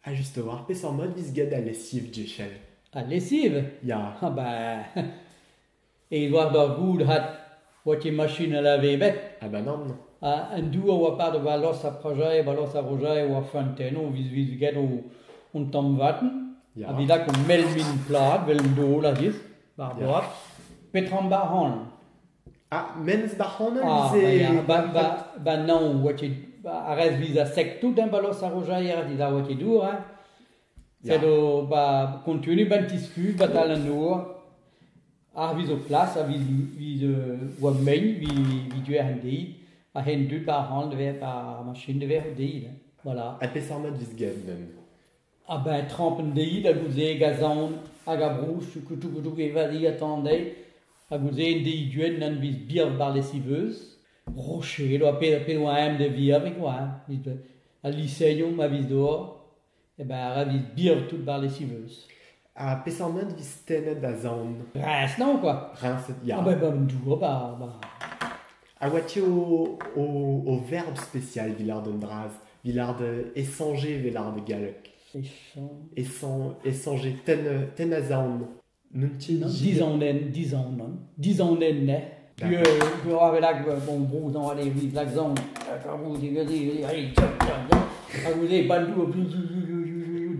Ha just a-walc'h, peseurt mod vez graet al lesiv, Jechel? Al lesiv? Ya. Ha ba... E'it war d'ur goudrat votiñ machin a lave bet. Ha ba nann. Ha an dour a oa part war los a Prajae, ba los a Rojae oa Fanteno, vez vez graet o hon tamm vaten. Ya. A vidak o melmin plad, vel an dol a-rez, bar boaz. Petra am bar hañl? Ah, menez da c'hanol Ah, ze ma ya, ba, ba, ba non, oa tu, ba, a rez visa sec tout hein, ba los a Rojair dit a oa tu dour, hein. Ya. Sed ba kontenu ban tisku, ba tal an nour, ar viz o plas, a viz, viz euh, oa mein, vi, vi tu er deid, a hen dud par hand ver, par machine de ver deid, voilà. A peseurt mat vis gevnen? A-benn traoñ an deiz ha goude e gasaon hag a brouch koutoù-koutoù e vadigañ-tan dezhi ha goude en deiz du-hont en deus bier barlesi beuz, rochedo ha pet ha pet oa eñ da viharik oa eñ, evit al liseoù ma viz dour, e-beñ ra viz bier tout barlesi beuz. Ha peseurt ment vez tennet da zaon? Riñs naon kwa. Riñsed, ya. Ah ben bah un dour bah bah. A oa tu o, o, o verb spécial villard un bras, villard échanger villard galleg. Échange. Échan- échanger tenn tenn a zaon. N'un ti Non, dizanenn, dizanenn, dizanenn ne. Puis, euh, je peux rappeler là que, bon, bon, dans les accents, vous allez, allez, bandou,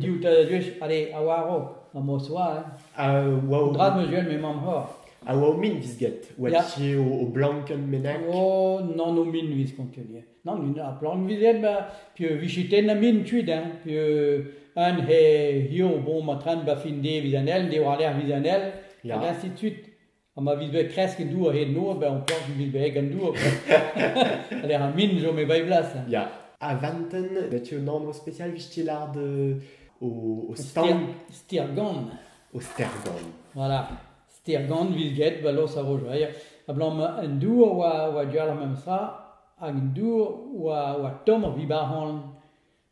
diou ta dus, allez, awaro, ma moswa, hein. waw. Drad mesuel, mais mamha. A oa o min vis get, oa ti o, o blanken menak? O, nan o min vis kontelien. Nan, min a plank vizen, ba, pi vichiten a min tuit, hein. Pi an he hio bon matran ba fin de vizanel, de war ler vizanel, et ainsi de suite. ha ma vit bet kresk en dour a-hed noz bezañ amplant vit bet gant dour lec'h ar min chom e bae blas Ya, ha vanten, bet tu un anv spesial vit ti lard euh, au, au stand, Stirgan. au stergan. Voilà. Stirgan vit get ba los a ro joair. Ablamm un dour oa, oa dual ar memes tra, hag un dour oa, oa tomm ur vibar hanlon.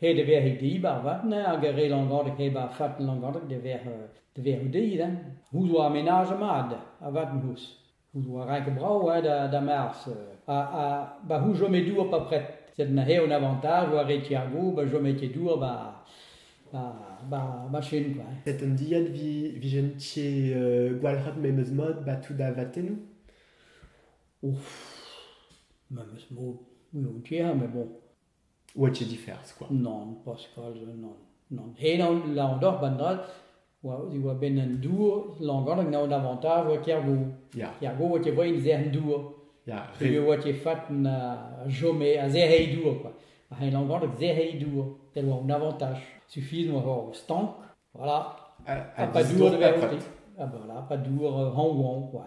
Ret e vefe dibab avat hag re Langoneg hep ar fat Langoneg da vec'h da vec'h oudid hein. C'hoût oa ar menaj mat avat m'ous. C'hoût oa renk brav hein da da Mars ha ha ba c'hoût chome dour pa pret sed na eo un avantaj oa re Tiago ba chome ket dour ba ba ba ba chen quoi. hein. Met un dilhad vi vijen ti euh, gwalc'hat memes mod ba tout da vatennoù Ouf, memes mod, oui, on tient, mais bon, Oa ket difers kwa. Nann, Pascal, nann, nann. Henañ Lanvdor Bandrad oa diwar-benn an dour. Lanvdor hag naon Avantage oa Kergo. Ya. Kergo oa ket brein zern-dour. Ya. Peogwir oa ket fat na chome a zerei dour kwa. Ma c'hell Lanvdor hag zerei dour, tel oa an avantaj. Sufis oa hor stank, voilà. Ha pa dour da vezañ outi. Ha voilà, pa dour hañv-hañv, quoi.